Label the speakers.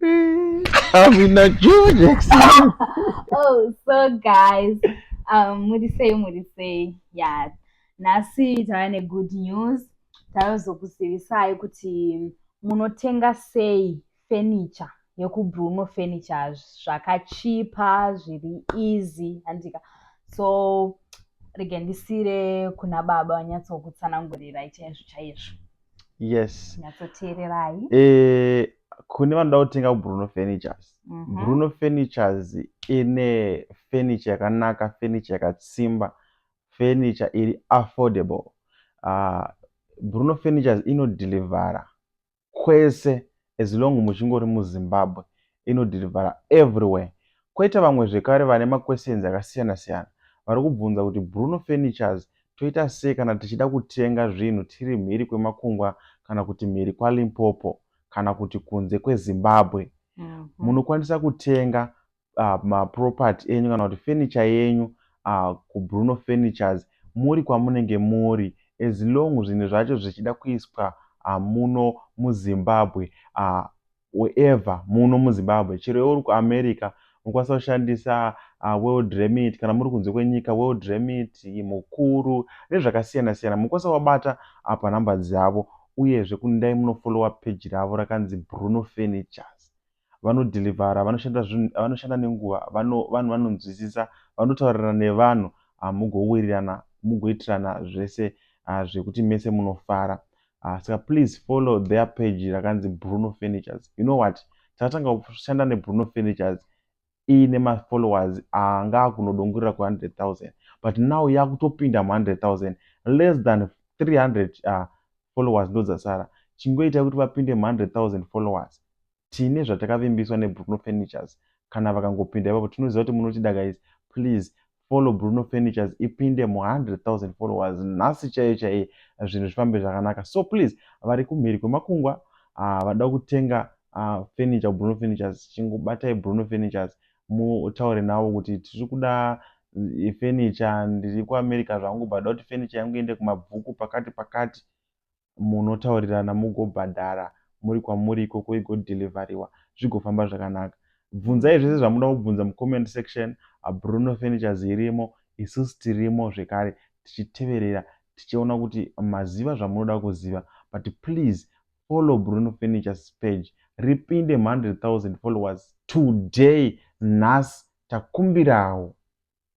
Speaker 1: I'm in a George Oh,
Speaker 2: so guys, um, muri sei muri sei? Yeah. Nhasi tava ne good news. Taizokuzivisai kuti munotenga sei furniture yekubruno furniture zvakachipa zviri easy handika so regendisire kuna baba vanyatsokutsanangurirai chaizvo chaizvo yes
Speaker 1: nyatsoteererai
Speaker 2: eh,
Speaker 1: kune vanoda kutenga kubruno furnitures mm -hmm. bruno furnitures ine furniture yakanaka furniture yakatsimba furniture iri affordable uh, bruno furnitures inodhilivhara kwese as long muchingori muZimbabwe inodhirivhara everywhere. Koita vamwe zvekare vane maquestions akasiyana siyana vari kubvunza kuti Bruno Furnitures toita sei kana tichida kutenga zvinhu tiri mhiri kwemakungwa kana kuti mhiri kwaLimpopo kana kuti kunze kweZimbabwe. Munokwanisa kutenga uh, maproperty enyu kana kuti furniture yenyu uh, kubruno furnitures muri kwamunenge muri as long zvinhu zvacho zvichida kuiswa uh, muno muzimbabwe uh, wherever muno muzimbabwe chero yeuri kuamerica mokwanisa kushandisa uh, world remit kana muri kunze kwenyika world remit mukuru nezvakasiyana siyana mokwanisa wabata apa nhamba dzavo uyezve kunidai munofolowa peji ravo rakanzi bruno furnitures vanodhilivhara vanoshanda zvinhu vanoshanda nenguva vano vanhu vanonzwisisa vanotaurirana nevanhu ah, mugowirirana mugoitirana zvese ah, zvekuti mese munofara ah, saka uh, please follow their page rakanzi bruno furnitures you know what takatanga kushanda nebruno furnitures iine mafollowers anga akunodongorera ku 100,000 but now yakutopinda mu 100,000 less than 300 uh, followers ndodzasara chingoitai kuti vapinde mu 100,000 followers tine zvatakavimbiswa ne Bruno Furnitures kana vakangopinda ipapo tinoziva kuti munotida guys please follow Bruno Furnitures ipinde mu 100,000 followers nhasi chaiye chaiye zvinhu zvifambe zvakanaka so please vari kumhiri kwemakungwa uh, vada kutenga uh, furniture Bruno Furnitures chingobatai Bruno Furnitures mutaure navo kuti tiri kuda eh, furniture ndiri kuAmerica zvangu bada kuti furniture yangu iende kumabvuku pakati pakati munotaurirana mugobhadhara muri kwamuri ikoko igodhilivhariwa zvigofamba zvakanaka. Bvunzai zvese zvamunoda kubvunza mucomment section, Bruno Furnitures irimo, isusu tirimo zvekare tichiteverera tichiona kuti maziva zvamunoda kuziva but please follow Bruno Furnitures page ripinde 100,000 followers today nhasi takumbirawo.